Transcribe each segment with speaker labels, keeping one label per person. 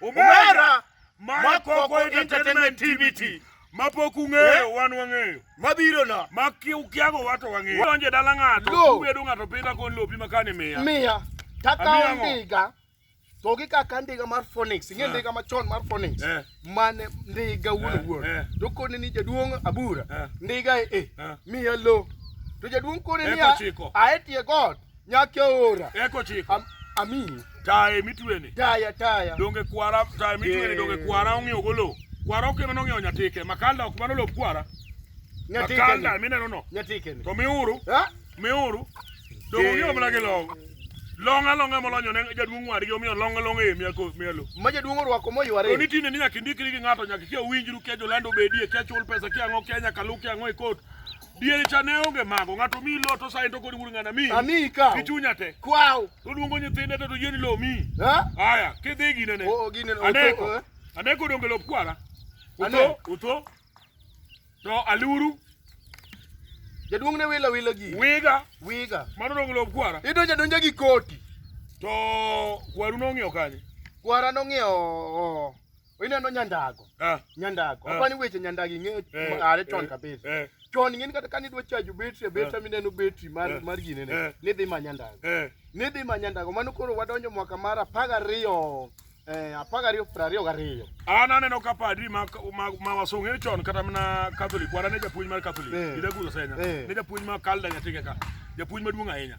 Speaker 1: Omera Makoko Entertainment TVT mapok ung'eyo eh? wan wang'eyo mabiro na ma ukiago wato wang'eyo donje dala ng'ato ubedo ng'ato pidha kon lopi makane miya miya takawo ndiga to gi kaka ndiga mar Phoenix ing'e eh. ndiga machon mar Phoenix eh. mane ndiga wuon wuon to kone ni jaduong' abura ndiga e miya lo to jaduong' kone ni aetie god Nyake ora. Eko chiko. Am, ami. Taye mitweni. Taya taya. Donge kwara taye mitweni donge kwara ong'eyo golo. Kwara okema nong'eyo nyatike. Makanda ok mano lop kwara. Nyatike. Makanda mineno no. Nyatike. To miuru. Ha? Miuru. Donge ong'eyo mana gi long. Long alonga molonyo ne jaduong' wari gi omiyo long alonga e miya ko mielo. Ma jaduong' orwako moyware. To nitine ni nyaka indikri gi ng'ato nyaka kia winjru kia jolando bedie kia chul pesa kia ang'o kia nyaka lu kia ang'o e kot. Diere cha ne onge mago, ng'ato mi lo to sae to kodi wuod ng'ana mi. Ami ikaw. Gi chunya te. Kwaw. To luongo nyithinde to to yeni lo mi. Ha? Aya, kidhi gine ne. Oo gine ne. Aneko. Aneko donge lop kwara. Uto, uto. To aluru. Jaduong' ne wila wila gi. Wiga. Wiga. Mano donge lop kwara. Idonja donja gi koti. To kwaru nong'iew kanye? Kwara nong'iew Ineno nyandago. Ah. Nyandago. Ah. Apani weche nyandago ing'eyo eh, are chon eh, kabisa. Eh. Chon ing'eni kata kani idwa chajo betri, ah. betri mineno betri mar ah. mar gine ne. Ah. Nidhi ma nyandago. Eh. Nidhi ma nyandago. Mano koro wadonjo mwaka mar apar gariyo. Eh, apar gariyo piero ariyo gariyo. An aneno ka padri ma ma, ma wasong'e chon kata mana Catholic, wana ne japuonj mar Catholic. Eh. Ida gulo senya. Eh. Ne japuonj ma kalda nyatinga ka. Japuonj maduong' ahinya.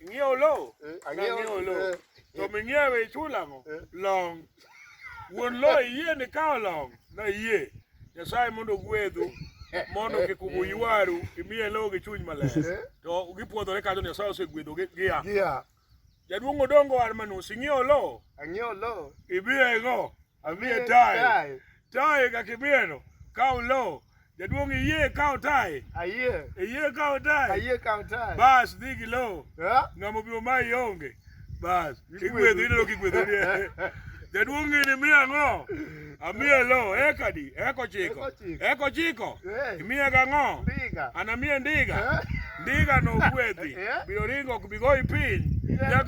Speaker 1: Ing'iewo lowo? Eh, ang'iewo Nang'iewo lowo. lowo. To ming'iewe ichulo ang'o? Eh. Long. Wuon lowo iyie ni kawo long? Nayie. Nyasaye mondo ogwedhu mondo kik uywaru imiye lowo gi chuny maler. Eh. To gipwodhore kajo Nyasaye osegwedho gi- gia. Gia. Jaduong' Odongo Armanus ing'iewo lowo? Ang'iewo lowo. Ibiye go. Amie tae. Tae kakibeno. Kao low. Jaduong' iyie kao tae. Ayie. Iyie kao tae. Ayie kao tae. Bas dhi gi low. Yeah. Ng'amo biro ma ionge. Bas. Kigwedho ineno kigwedho ni. Jaduong' ng'ini miya ang'o? Amiye low. Eka di. Eka ochiko. Eka ochiko. Imiye ga ang'o? Ndiga. Anamiye ndiga. Ndiga no gwedhi. Biro ringo ok bigoyi piny.